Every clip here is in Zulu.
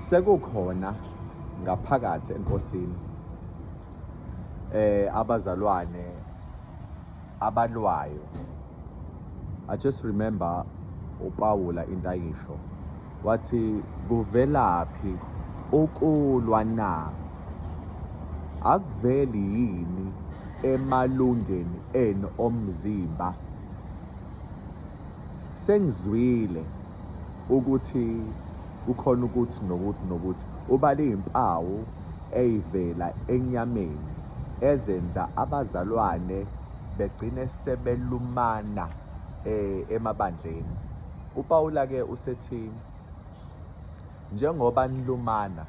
sekukhona ngaphakathi enkosini eh abazalwane abalwayo i just remember upawula into ayisho wathi kuvelaphi ukulwa na akuveli yini emalungeni enu omzimba sengizwile ukuthi kukhona ukuthi nokuthi nokuthi ubale izimpawu eyivela enyameni ezenza abazalwane begcine sebelumana eh, emabandleni uPawula ke usethi njengoba nilumana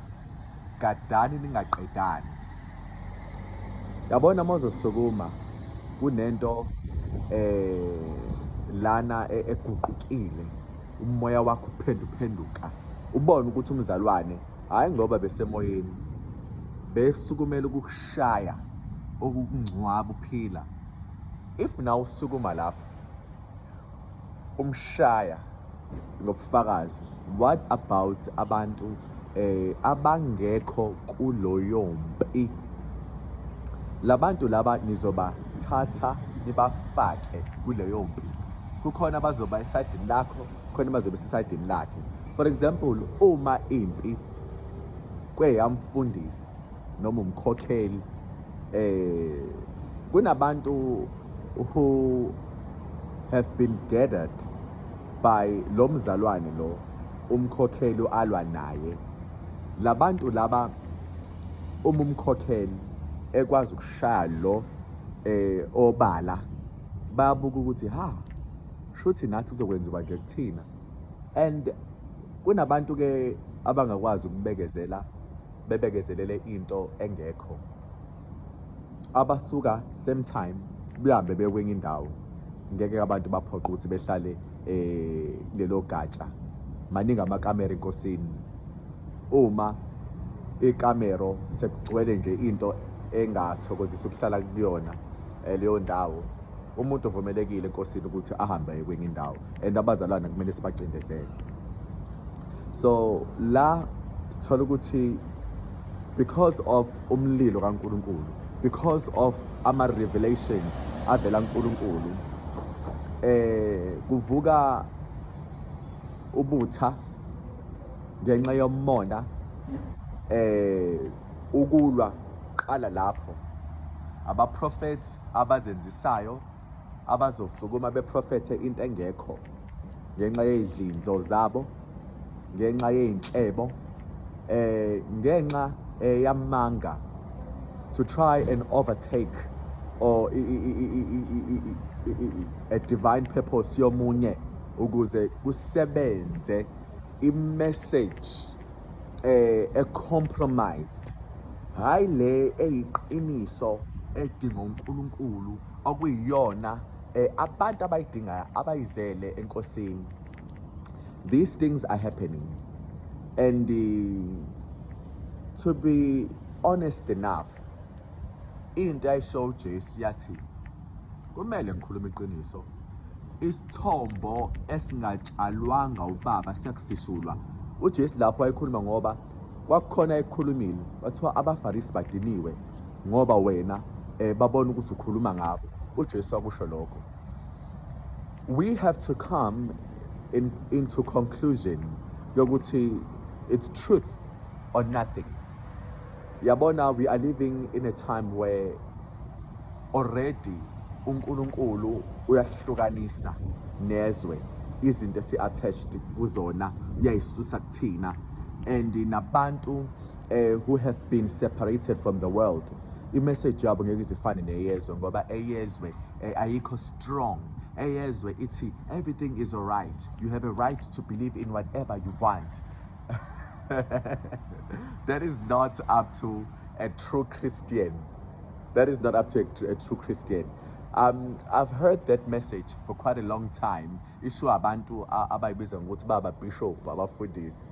gadani ningaqedani yabona mozosukuma kunento eh lana e-, eguqukile umoya wakho uphenduphenduka ubone ukuthi umzalwane hayi ngoba besemoyeni besukumela ukukushaya okukungcwaba uphila if nawe usukuma lapho umshaya ngobufakazi what about abantu eh abangekho kuloyo mpi labantu laba nizobathatha nibafake kuleyo mpi kukhona abazoba esidini lakho khona bazobe sesidini lakhe for example uma impi kweyamfundisi noma umkhokheli eh kunabantu who have been gathered by lo mzalwane lo umkhokheli alwa naye labantu laba uma umkhokheli ekwazi ukushaya lo eh obala bayabuka ukuthi ha shuthi nathi kuzokwenziwa nje kuthina and kunabantu ke abangakwazi ukubekezela bebekezelele into engekho abasuka same time behambe bekwenye indawo ngeke abantu baphoqa ukuthi behlale eh lelo gatsha maningi amakamera enkosini uma ikamero sekugcwele nje into engathokozisa ukuhlala kuyona eh, leyo ndawo umuntu ovumelekile enkosini ukuthi ahambe kwenye indawo and abazalwane kumele sibacindezele so la sithola ukuthi because of umlilo kaNkuluNkulu because of ama revelations avela uNkulunkulu eh kuvuka ubutha ngenxa yomona eh ukulwa qala lapho abaprofeti abazenzisayo abazosukuma beprofethe into engekho ngenxa yey'dlinzo zabo ngenxa yey'nhlebo eh ngenxa eh, yamanga to try and overtake or a divine purpose yomunye ukuze kusebenze i-message eh e-compromised hhayi le eyiqiniso edinga uNkulunkulu okuyiyona eh, abantu abayidingayo abayizele enkosini these things are happening and uh, to be honest enough into ayisho uJesu yathi kumele ngikhulume iqiniso isithombo esingatshalwanga ubaba siyakusishulwa uJesu lapho ayikhuluma ngoba kwakukhona ekukhulumile bathiwa abafarisi badiniwe ngoba wena eh, babona ukuthi ukhuluma ngabo ujesu wakusho lokho we have to come in, into conclusion yokuthi it's truth or nothing yabona we are living in a time where already uNkulunkulu uyasihlukanisa nezwe izinto esi attached kuzona uyayisusa kuthina and nabantu eh, who have been separated from the world imessage yabo ngeke izifane neyezwe ngoba eyezwe eh, ayikho strong eyezwe ithi everything is alright you have a right to believe in whatever you want that is not up to a true christian That is not up to a, a true Christian. Um, I've heard that message for quite a long time. Isho abantu abayibiza ngokuthi baba bishop abafundisi.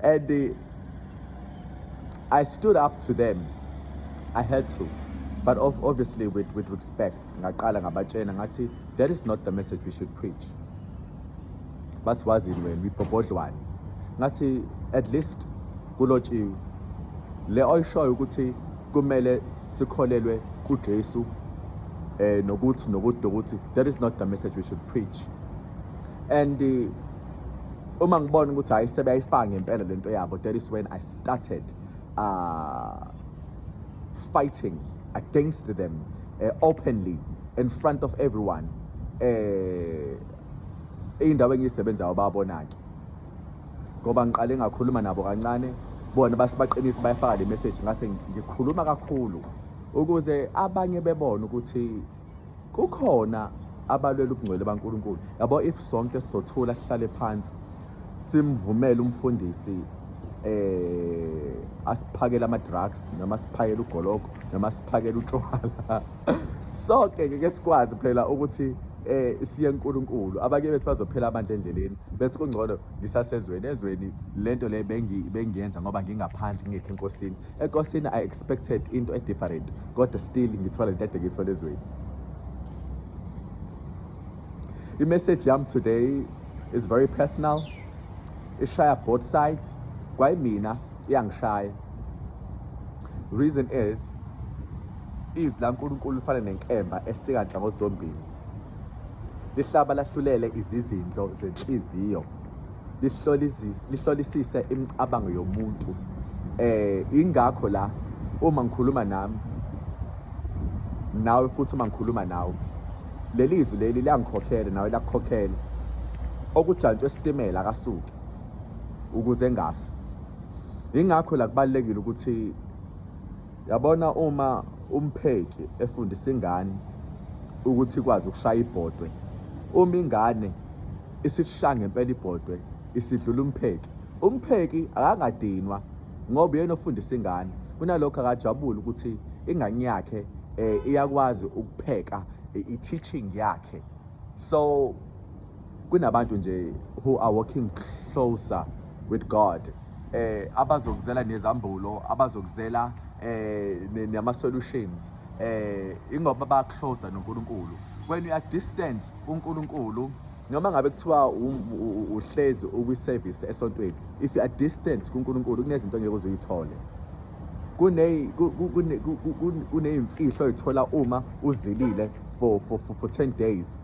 And uh, I stood up to them. I had to. But obviously with, with respect, ngaqala ngabatshena ngathi that is not the message we should preach. bathi wazini wena uyibhobhodlwane ngathi at least kulotshiwe le oyishoyo ukuthi kumele sikholelwe kuJesu eh nokuthi nokuthi nokuthi that is not the message we should preach and eh, uma ngibona ukuthi hayi sebeyayifanga impela lento yabo that is when i started uh fighting against them uh, openly in front of everyone eh indawo engisebenzayo babona ke ngoba ngiqale ngakhuluma nabo kancane bona basibaqinisa bayafaka le message ngase ngikhuluma kakhulu ukuze abanye bebone ukuthi kukhona abalwela ubungcwele baNkulunkulu yabo if sonke sothula sihlale phansi simvumele umfundisi eh asiphakele ama drugs noma siphakele ugologo noma siphakele utshwala sonke ngeke sikwazi phela ukuthi eh siye uNkulunkulu abake bethi bazophela abantu endleleni bethi kungcono ngisasezweni ezweni lento le bengi bengiyenza ngoba ngingaphandle ngingekho enkosini enkosini expected into e different kodwa still ngithwala into edekithwa lezweni i message yam today is very personal ishaya both sides kwayimina iyangishaya reason is izwi laNkulunkulu lifana nenkemba esika nhlangothi zombili lihlaba lahlulele izizindlo zenhliziyo lihlolisise imicabango yomuntu eh ingakho la uma ngikhuluma nami nawe futhi uma ngikhuluma nawe leli izwi leli liyangikhokhela nawe lakukhokhela okujantshwe esitimela akasuke ukuze ngafi ingakho la kubalekile ukuthi yabona uma umpheki efundisa ingane ukuthi ikwazi ukushaya ibhodwe uma ingane isishaya ngempela ibhodwe isidlula umpheki umpheki akangadinwa ngoba yena ofundisa ingane kunalokho akajabule ukuthi ingane yakhe eh, iyakwazi ukupheka i-teaching yakhe so kunabantu nje who are walking closer with God eh abazokuzela nezambulo abazokuzela eh nama solutions eh ingoba ba closer noNkulunkulu when you are distant uNkulunkulu noma ngabe kuthiwa uhlezi ukwi service esontweni if you are distant kuNkulunkulu kunezinto ngeke uzuyithole kune kuneyimfihlo oyithola uma uzilile for for for 10 days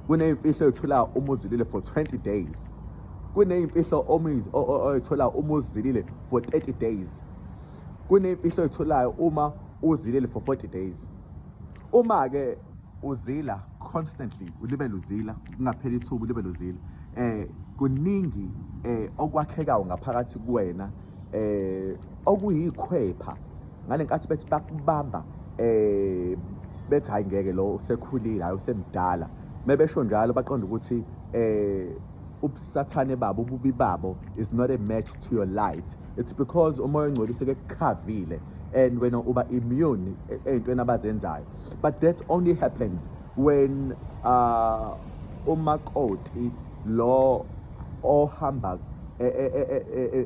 kuneyimfihlo oyithola uma uzilile for 20 days kuneyimfihlo oyithola uma uzilile for 30 days kuneyimfihlo oyitholayo uma uzilile for 40 days uma ke uzila constantly ulibele uzila kungapheli ithuba ulibele uzila eh kuningi eh okwakhekayo ngaphakathi kuwena eh okuyikhwepha ngalenkathi bethi bakubamba eh bethi hayi ngeke lo usekhulile hayi usemdala mebesho njalo baqonda ukuthi eh ubusathane babo ububi babo is not a match to your light it's because umoya ongcwele useke kukhavile and wena uba immune e-, ey'ntweni abazenzayo but that only happens when uh, umakoti lo ohamba e, e,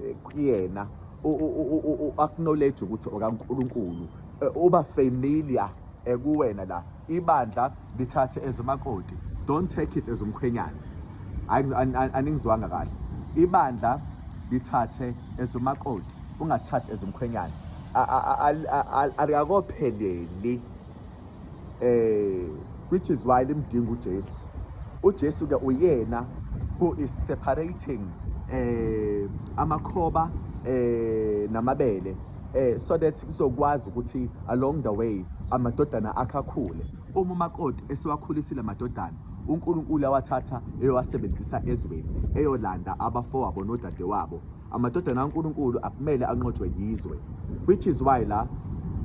e, kuyena u-acknowledge ukuthi okaNkulunkulu uba familiar ekuwena la ibandla lithathe ezimakoti don't take it as umkhwenyana aningizwanga kahle ibandla lithathe as umakoti ungathathi as umkhwenyana alikakopheleli eh which is why limdinga uJesu uJesu ke uyena who is separating eh amakhoba eh namabele eh so that kuzokwazi ukuthi along the way amadodana akhakhule uma umakoti esiwakhulisile amadodana uNkulunkulu awathatha eyowasebenzisa ezweni eyolanda abafowabo nodadewabo Amadodana kaNkulunkulu akumele anqotshwe yizwe which is why la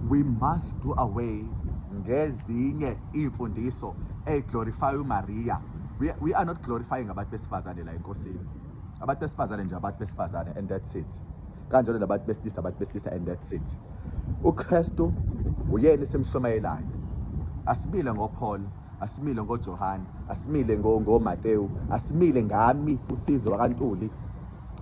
we must do away ngezinye iy'mfundiso eziglorify uMaria we, we are not glorifying abantu besifazane la enkosini abantu besifazane nje abantu besifazane and that's it kanjalo labantu besilisa abantu besilisa and that's it uKristu uyena esimshumayelayo asibile ngoPaul asimile ngoJohane asimile ngoMateyu asimile ngami usizo wakantuli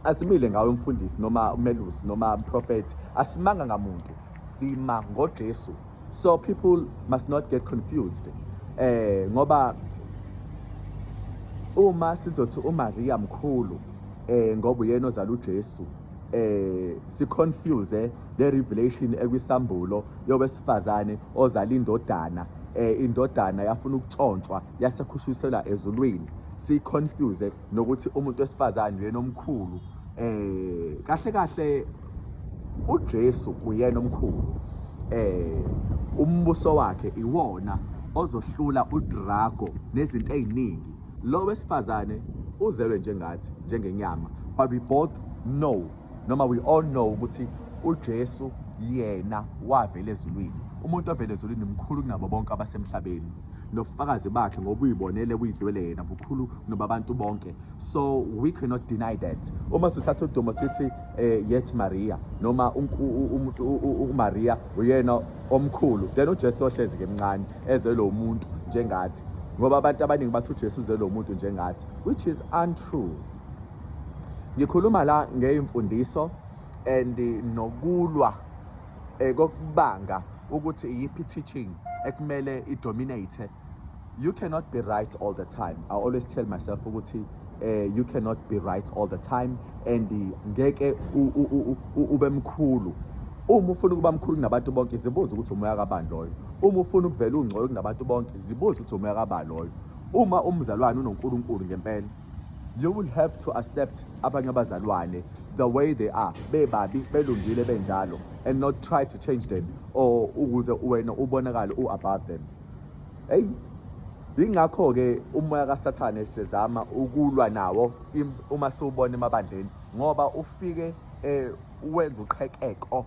asimile ngawe mfundisi noma umelusi noma mprofethi asimanga ngamuntu sima ngojesu so people must not get confused eh ngoba uma sizothi uMaria mkhulu eh ngoba uyena ozala uJesu eh si confuse le revelation ekwisambulo yowesifazane ozala indodana eh indodana yafuna ukutshontshwa yasekhushusela ezulwini si confuse nokuthi umuntu wesifazane uyena omkhulu eh kahle kahle uJesu uyena omkhulu eh umbuso wakhe iwona ozohlula udrago nezinto eziningi lo wesifazane uzelwe njengathi njengenyama but we both know noma we all know ukuthi uJesu yena wavela ezulwini umuntu ovela ezulwini mkhulu kunabo bonke abasemhlabeni nobufakazi bakhe ngobuyibonele kuyizwele yena bukhulu nobabantu bonke so we cannot deny that uma sithatha udumo sithi eh, yet maria noma umaria uyena omkhulu then ujesu ohlezi ke mncane eze lo muntu njengathi ngoba abantu abaningi bathi ujesu uze lo muntu njengathi which is untrue ngikhuluma la ngeyimfundiso and nokulwa eh, kokubanga ukuthi iyiphi teaching ekumele idominate you cannot be right all the time i always tell myself ukuthi eh you cannot be right all the time and ngeke ube mkhulu uma ufuna ukuba mkhulu kunabantu bonke zibuze ukuthi umoya kabani loyo uma ufuna ukuvela ungcoyo kunabantu bonke zibuze ukuthi umoya kabani loyo uma umzalwane unoNkulunkulu ngempela You will have to accept abanye abazalwane the way they are bebabi belungile benjalo and not try to change them or ukuze wena ubonakale u above them hey yingakho ke umoya kaSathane sezama ukulwa nawo uma siwubona emabandleni ngoba ufike eh wenza uqhekeko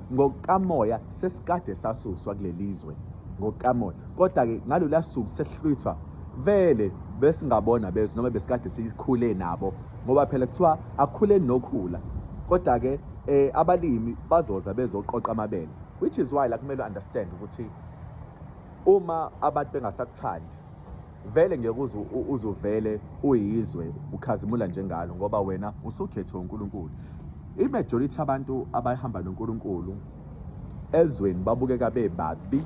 ngokukamoya sesikade sasuswa kulelizwe ngokukamoya kodwa ke ngalolu suku sehlwithwa vele besingabona bezwe noma besikade sikhule nabo ngoba phela kuthiwa akhule nokhula kodwa ke eh abalimi bazoza bezoqoqa amabele which is why la kumele understand ukuthi uma abantu bengasakuthandi Vele ngeke uze u- uze uvele uyizwe ukhazimula njengalo ngoba wena usukhethiwe uNkulunkulu. I-majority abantu abahamba noNkulunkulu ezweni babukeka bebabi,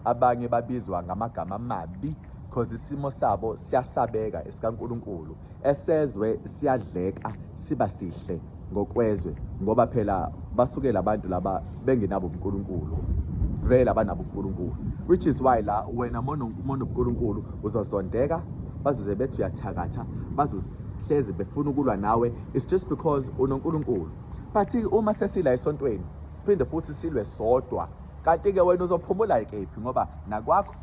abanye babizwa ngamagama amabi because isimo sabo siyasabeka esikaNkulunkulu. esezwe siyadleka siba sihle ngokwezwe ngoba phela basuke labantu laba bengenabo uNkulunkulu vele abanabo uNkulunkulu which is why la wena mono mono uNkulunkulu uzozondeka bazoze bethi uyathakatha bazohlezi befuna ukulwa nawe it's just because unoNkulunkulu but uma sesila esontweni siphinde futhi silwe sodwa kanti ke wena uzophumula kephi ngoba nakwakho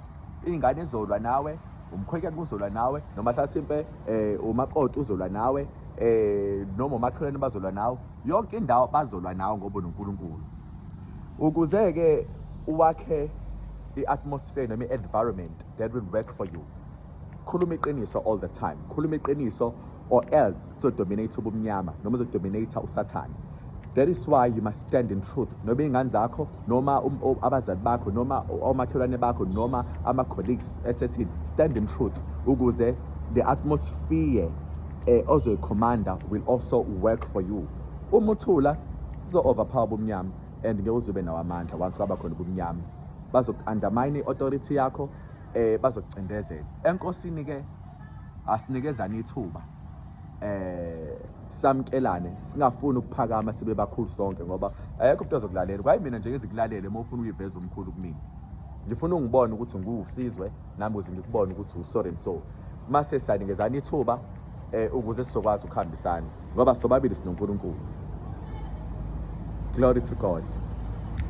ingane izolwa nawe umkhwenyana uzolwa nawe noma hlasimpe um eh, umakoti uzolwa nawe um noma umakhelwane bazolwa nawe yonke indawo bazolwa nawe ngoba unonkulunkulu ukuze-ke uwakhe i-atmosphere noma i-environment that will work for you khuluma iqiniso all the time khuluma iqiniso or else uzodominate ubumnyama noma uzodominate usathane that is why you must stand in truth noma iy'ngane zakho noma um, um, abazali bakho noma omakhelwane bakho noma ama-colleagues esethini stand in truth ukuze the atmosphere eh, ozoyikhomanda will also work for you uma uthula uzo-overpower ubumnyama and ngeke uzobe nawo amandla once kwaba khona ubumnyama bazoku-undermine i-authority yakho um eh, bazokucindezela enkosini-ke asinikezane ithuba eh samkelane singafuni ukuphakama sibe bakhulu sonke ngoba ayekho umuntu ozokulalela kwayi mina nje ngizikulalele uma ufuna uyiveza umkhulu kumina ngifuna ungibone ukuthi ngiwusizwe nami uze ngikubone ukuthi usorry and so mase sanikezana ithuba eh ukuze sizokwazi ukuhambisana ngoba sobabili sinoNkulunkulu glory to god